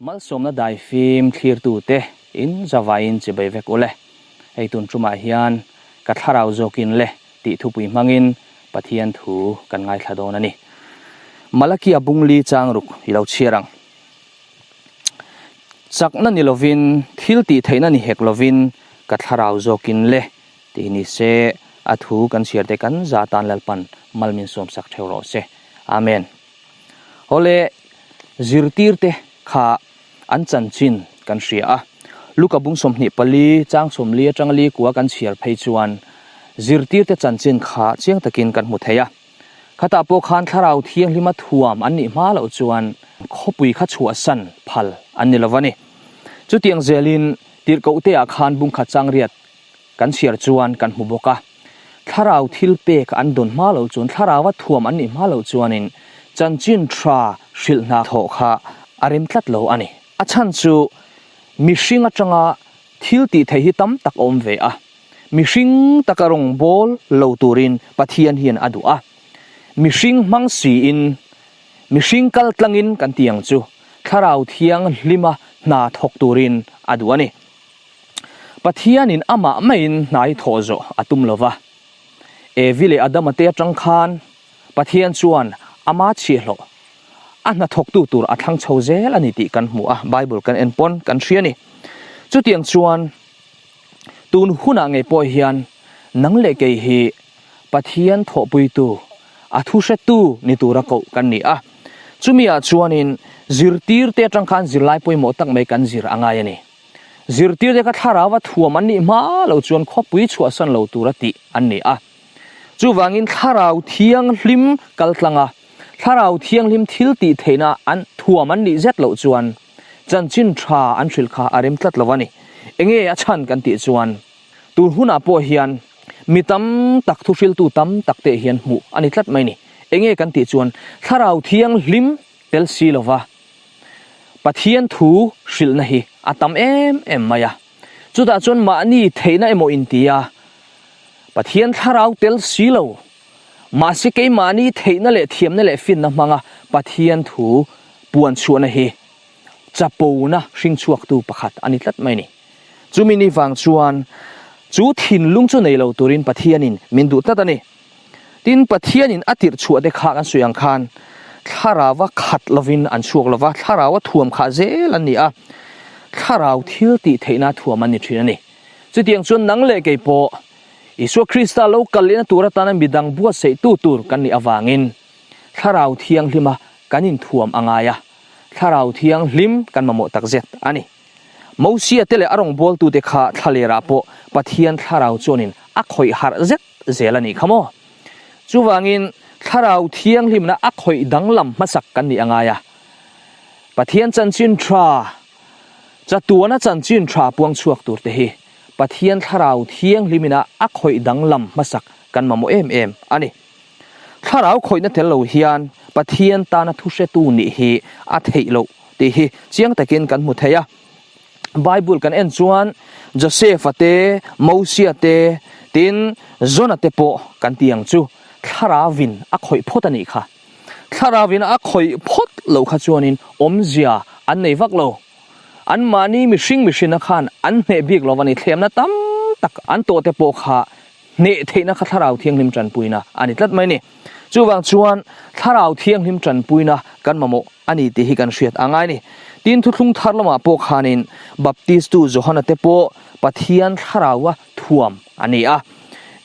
Malsawmna dai fim thlirtu te in zavai in chibai vek ule. Hei tun ṭum ah hian ka thlarau zawk in le tihtupui hmang in Pathian thu kan ngaithla dawn a ni. Malachi a bung li chang ruk i lo chhiar ang. Chakna ni lo in, thil tih theih na ni hek lo in ka thlarau zawk in le ti ni se a thu kan chhiar te kan za tan lalpan mal min sawm sak theu rawh se. Amen. Hawle, zirtirte kha an chan chin kan hria a. Luka bung sawmhnih pali, chang sawmli atanga li kua kan chhiar phei chuan zirtirte chan chin kha chiang takin kan hmu thei a. Khatah pawh khan Thlarau Thianghlima thuam an nih hma loh chuan khawpui kha chhuahsan phal an ni lo a ni. Chutiang zelin tirhkohte ah khan bungkhat changriat Kan chhiar chuan kan hmu bawk a, thlarau thil pek an dawn hma lo chuan, thlarauva thuam an nih hma lo chuanin chanchin tha hrilh hna thawh kha a rem tlat lo a ni. A chhan chu mihring atanga thil tih theih hi tam tak a awm ve a, mihring taka rawn bawl lo turin Pathian hian a duh a, mihring hmang siin, mihring kal tlangin kan tih ang chu thlarau thiang hlima hna thawk turin a duh a ni. Pathianin amah maiin hnai thawh zawh a tum lo va. Evi leh Adama te atang khan Pathian chuan ama chhiahhlawh a hnathawktu tur a thlang chho zel a ni tih kan hmu a, Bible kan en pawn kan hria ni. Chutiang chuan tun hunah ngei pawh hian nang leh kei hi Pathian thawhpuitu, a thu hretu ni tura koh kan ni a. Chumi ah chuanin zirtirte atang khan zirlai pawimawh tak mai kan zir a ngai a ni. Zirtirte ka thlarau a thuam an nih hma lo chuan khuapui chhuahsan lo tur a tih an ni a. Chuvangin thlarau thianghlim kal tlang a, thlarau thianghlim thil tih theihna an thuam an nih zet loh chuan chanchin tha an hrilh kha a rem tlat lo a ni. Enge a chhan kan tih chuan tun hunah pawh hian mi tam tak thuhriltu tam tak te hian hmuh a ni tlat mai ni. Enge kan tih chuan thlarau thianghlim Fel si lo va, Pathian thu hrilhna hi a tam em em mai a. Chutah chuan mahni theihna emaw intia Pathian thlarau tel si lo. Mahse keimahni theihna leh thiamna leh finna hmanga Pathian thu puan chhuahna hi chapona hring chhuaktu pakhat a ni tlat mai a ni. Chumi ni vang chuan chu thinlung chu nei lo turin Pathianin min duh tlat a ni. Tin, Pathianin a tirhchhuah te kha kan sawi ang khan thlarauva khat lovin an chhuak lo va, thlaraua thuam kha zel an ni a, thlarau thil tih theihna thuam an ni thin a ni. Chutiang chuan nang leh kei pawh Isua Krista lo kal lehna tur atana midang buatsaihtu tur kan nih avangin thlarau thianglima kan inthuam a ngai a, thlarau thianghlim kan mamawh takzet a ni. Mosea te leh a rawngbawltute kha thla lerah pawh Pathian thlarau chuanin a khawih harh zet. zel a nih kha maw? Chuvangin Thlarau Thianghlimna a khawih danglam hmasak kan nih a ngai a. Pathian chanchin tha, chatuana chanchin tha puang chhuak tur te hi Pathian Thlarau Thianghlima a khawih danglam hmasak kan mamawh em em a ni. Thlarau khawihna tel lo hian Pathian tana thuhretu nih hi a theih loh tih hi chiang takin kan hmu thei a. Bible kan en chuan Josepha te, Mosia te, tin Jonah te pawh kan tih ang chu Thlarauin a khawih phawt a nih kha. Thlarauin a khawih phawt lo kha chuanin awmzia an nei vak lo. Anmahni mihring mihrina khan an hneh bik lo a ni, thlemna tam tak an tawhte pawh kha hneh theihna kha Thlarau Thianghlim tanpuina a ni tlat mai ni. Chuvang chuan Thlarau Thianghlim tanpuina kan mamawh a ni tih hi kan hriat a ngai ni. Tin, Thuthlung Thar lamah pawh khanin Baptistu Johana te pawh Pathian Thlaraua thuam a ni a.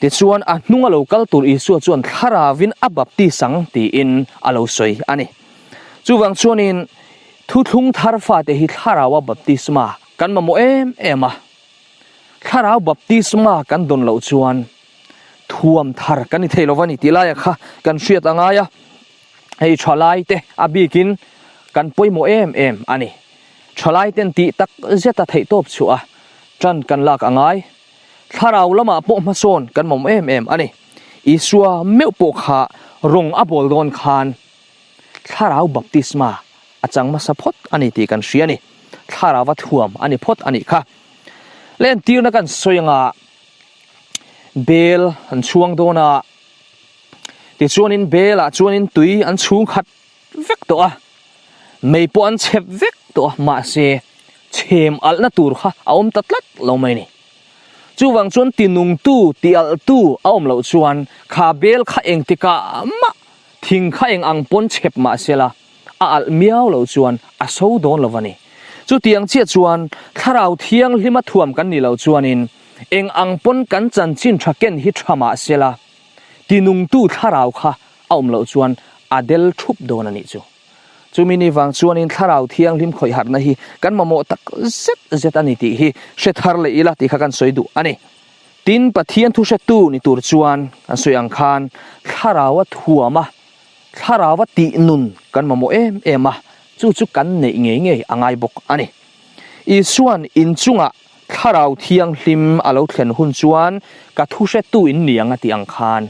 Tichuan, a hnung a lo kal tur Isua chuan Thlarauin a baptis ang tiin a lo sawi a ni. Chuvang chuanin, Thuthlung Thar fate hi Thlaraua baptisma kan mamawh em em a Thlarau baptisma kan dawn loh chuan thuam thar kan ni thei lo va ni tih laia kha kan hriat a ngai a, hei thalai te a bikin kan pawimawh em em a ni. Thalai ten tih tak zeta theihtawp chhuaha tan kan lak a ngai. Thlarau lamah pawh hmasawn kan mawm em em a ni. Isua meuh pawh kha rawn a bawl dawn khan, Thlarau baptisma a chang hmasa phawt a ni tih kan hria a ni. Thlarauva thuam a ni phawt a nih kha. Le entirna kan sawi anga bel an chhuang dawn a, tichuanin belah chuanin tui an chhung khat vek tawh a, mei pawh an chep vek tawh a, mahse chhem alhna tur kha a awm ta tlat lo mai a ni. Chuvang chuan tinungtu, tialhtu a awm loh chuan kha bel kha engtikah mah, Thing kha eng ang pawn chhep mahsela, a alh miau lo chuan a so dawn lo a ni. Chutiang chiah chuan, Thlarau Thianglima thuam kan nih loh chuanin, eng ang pawn kan chanchin tha ken hi tha mahsela, tinungtu thlarau kha a awm loh chuan a del thup dawn a nih chu. Chumi ni vang chuanin Thlarau Thianghlim khawihharhna hi kan mamawh tak zet zet a ni tih hi hre thar leh ila tih kha kan sawi duh a ni. Tin, Pathian thuhretu ni tur chuan kan sawi ang khan thlaraua thuama, thlaraua tih nun kan mamawh em em a, chu chu kan neih ngei ngei a ngai bawk a ni. Isua'n inchungah thlarau thianghlim a lo thlen hun chuan ka thuhretuin ni ang a tih ang khan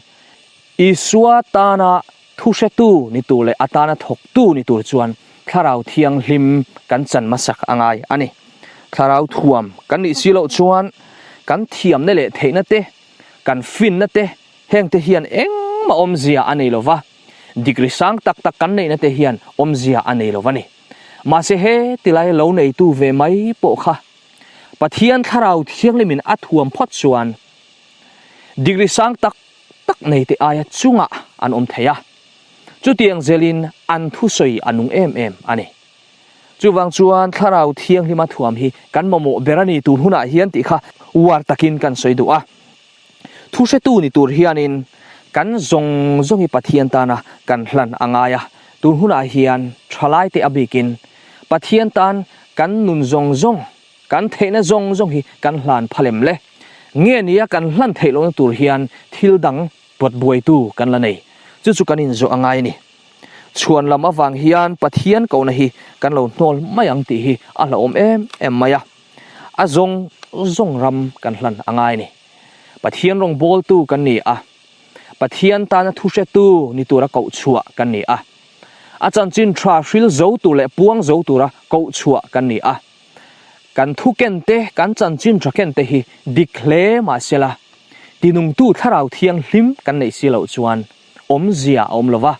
Isua tana thuhretu ni tur leh a tana thawktu ni tur chuan Thlarau Thianghlim kan chan hmasak a ngai a ni. Thlarau thuam kan nih si loh chuan kan thiamna leh theihna te, kan finna te heng te hian engmah awmzia a nei lo va, digri sang tak tak kan neihna te hian awmzia a nei lo va ni. Mahse he ti lai lo neitu ve mai pawh kha Pathian Thlarau Thianghlim in a thuam phawt chuan digri sang tak tak nei te aia chungah an awm thei a, chutiang zelin an thusawi a nung em em a ni. Chuvang chuan Thlarau Thianghlima thuam hi kan mamawh ber a nih tur hunah hian tih kha uar takin kan sawi duh a. Thuhretu ni tur hianin kan zawng zawng hi Pathian tana kan hlan a ngai a, tur hunah hian thalai te a bikin Pathian tan kan nun zawng zawng Kan theihna zawng zawng hi kan hlan pha lem le. Nge nia kan hlan theih lohna tur hian thil dang buat buaitu kan la nei? Chu chu kan inzawh a ngai a ni. Chhuan lam avang hian Pathian kohna hi kan lo hnawl mai ang tih hi a hlauhawm em em mai a. A zawng zawng ram kan hlan a ngai a ni. Pathian rawngbawltu kan ni a. Pathian tana thu hretu ni tura koh chhuah kan ni a. A chanchin tha hril zo tur leh puang zo tura koh chhuah kan ni a. Kan thuken te, kan chanchin thahken te hi dik hle mahsela, tinungtu thlarau thianghlim kan neih si loh chuan awmzia a awm lo va.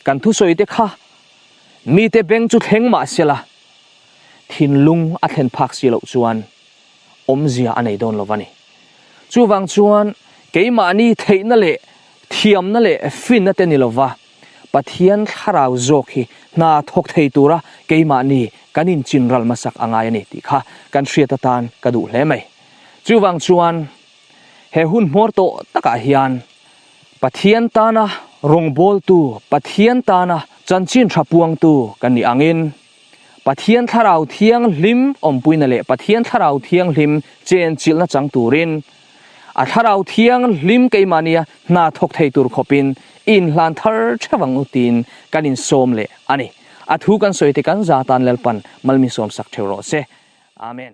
Kan thusawi te kha mite beng chu thleng mahsela, thinlung a thlen phak si loh chuan awmzia a nei dawn lo va ni. Chuvang chuan keimahni theihna leh thiamna leh finna te ni lo va. Pathian thlarau zawk hi hna thawk thei tura keimah ni kan inchin ral hmasak a ngai a ni tih kha kan hriat atan ka duh hle mai. Chuvang chuan he hun hmawr tawh takah hian Pathian tana rawngbawltu, Pathian tana chanchin tha puangtu kan nih angin, Pathian Thlarau Thianghlim awmpuina leh Pathian Thlarau Thianghlim chenchilhna chang turin a Thlarau Thianghlim keimahnia hna thawk thei tur khawpin i inhlan thar theuh ang u tiin kan insawm leh a ni. A thu kan sawi te kan za tan Lalpan malmi sawm sak theuh rawh se. Amen.